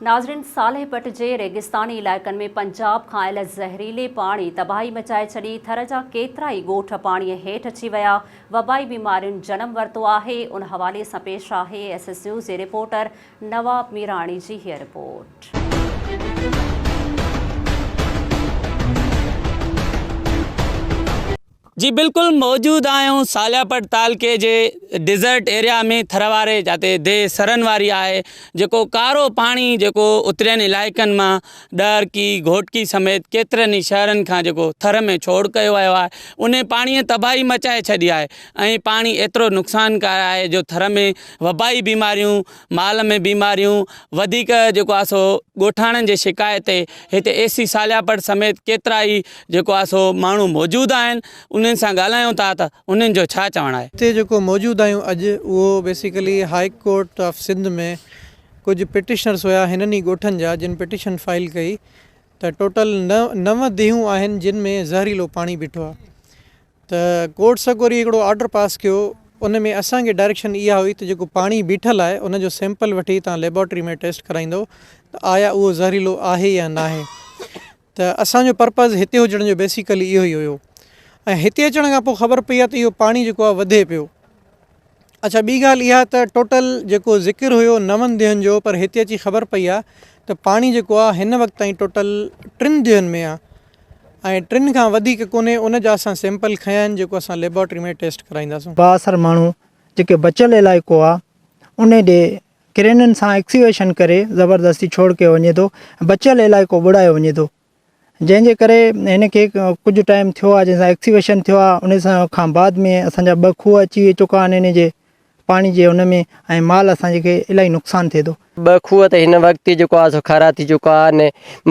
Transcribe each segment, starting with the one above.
ناظرين صالح پٽ جي ريگستاني علائقن ۾ پنجاب کان آيل زهريلي پاڻي تباهي مچائي ڇڏي، ٿر جا ڪيترا ئي ڳوٺ پاڻي هيٺ اچي ويا، وبائي بيمارين جنم ورتو آهي، ان حوالي سان پيش آهي ايس ايس نيوز جي رپورٽر نواب ميراڻي جي هيء رپورٽ. جي بلڪل موجود آهيون سالياپٽ تعلقي جي ڊيزرٽ ايريا ۾ ٿر واري جاتي دي سرن واري آهي جيڪو ڪارو پاڻي جيڪو اترين علائقن مان ڏهرڪي گهوٽڪي سميت ڪيترن ئي شهرن کان جيڪو ٿر ۾ ڇوڙ ڪيو ويو آهي انهي پاڻي تباهي مچائي ڇڏي آهي ۽ پاڻي ايترو نقصانڪار آهي جو ٿر ۾ وبائي بيماريون مال ۾ بيماريون وڌيڪ جيڪو آهي سو ڳوٺاڻن جي شڪايت تي هتي اي سي سالياپڙ سميت ڪيترا ئي جيڪو آهي سو ماڻهو موجود آهن انهن سان ڳالهايون ٿا ته انهن جو ڇا چوڻ آهي. هتي جيڪو موجود آهيون اڄ اهو basically high court of Sindh ۾ ڪجهه پٽيشنرس هيا هنن ئي ڳوٺن جا جن پٽيشن فائل ڪئي ته ٽوٽل نو ديهون آهن جن ۾ زهريلو پاڻي بيٺو آهي ته ڪورٽ سڀ وري هڪڙو آرڊر پاس ڪيو ان ۾ اسان کي ڊائريڪشن اها هئي ته جيڪو پاڻي بيٺل آهي ان جو سيمپل وٺي تان ليبارٽري ۾ ٽيسٽ ڪرائيندو ته آيا اهو زهريلو آهي يا ناهي ته اسان جو پرپز هتي هجڻ جو بيسيڪلي اهو ئي هيو ۽ هتي اچڻ کان پوء خبر پئي آهي ته اهو پاڻي جيڪو آهي وڌي پيو اڇا ٻي ڳالهه اها ته ٽوٽل جيڪو ذڪر هيو نون ديهن جو پر هتي اچي خبر پئي آهي ته پاڻي جيڪو آهي هن وقت تائين ٽوٽل ٽن ديهن ۾ آهي ۽ ٽن کان وڌيڪ ڪونهي ان جا اسان سيمپل کنيا آهن جيڪو اسان ليبارٽري ۾ ٽيسٽ ڪرائينداسون. بااثر ماڻهو جيڪي بچيل علائقو آهي ان ڏي ڪرينن سان ايڪسيويشن ڪري زبردستي ڇوڙ ڪيو وڃي ٿو بچيل علائقو ٻوڙايو وڃي ٿو جنهن جي ڪري هن کي ڪجهه ٽائيم ٿيو آهي جنهن سان ايڪسيويشن ٿيو آهي ان سان کان بعد ۾ اسان جا ٻه کوهه اچي چڪا آهن ان جي پاڻي جي ان ۾ ۽ مال اسان جي کي الاهي نقصان ٿئي ٿو. ٻه کوهه ته هن وقت ئي جيڪو آهي سو کارا ٿي چڪا آهن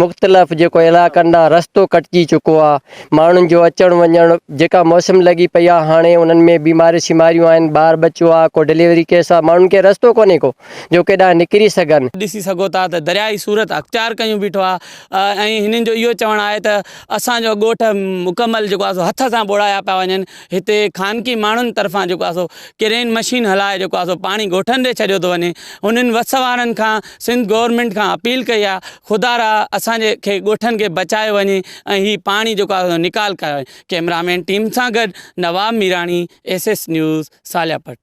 مختلف جيڪو علائقن ڏانهن رستو ڪٽجي چڪو آهي ماڻهن جو اچڻ وڃڻ جيڪا موسم لڳي پئي آهي هاڻي انهن ۾ بيماريون شيماريون آهن ٻار ٻچو آهي ڪو ڊليوري ڪيس آهي ماڻهن کي رستو ڪونهي ڪو جو ڪيڏانهن نڪري سگهن. ڏسي سگهو ٿا ته درياهي صورت اختيار ڪيون بيٺو آهي ۽ هنن جو اهو چوڻ آهي ته اسان جو ڳوٺ مڪمل جيڪو آهي سو هٿ سان ٻوڙايا پيا وڃن هتي خانگي ماڻهن طرفان جيڪو آهي سو ڪرين مشين هلائي جيڪو آهي سو پاڻي ڳوٺن ڏي ڇڏيو ٿو وڃي هنن وس وارن کان سنڌ گورنمينٽ کان اپيل ڪئي آهي خدا را اسان جي کي ڳوٺن کي بچايو وڃي ۽ هي پاڻي جيڪو آهي نڪال ڪيو وڃي ڪئميرا مين ٽيم سان گڏ Nawab Mirani S S news سالياپٽ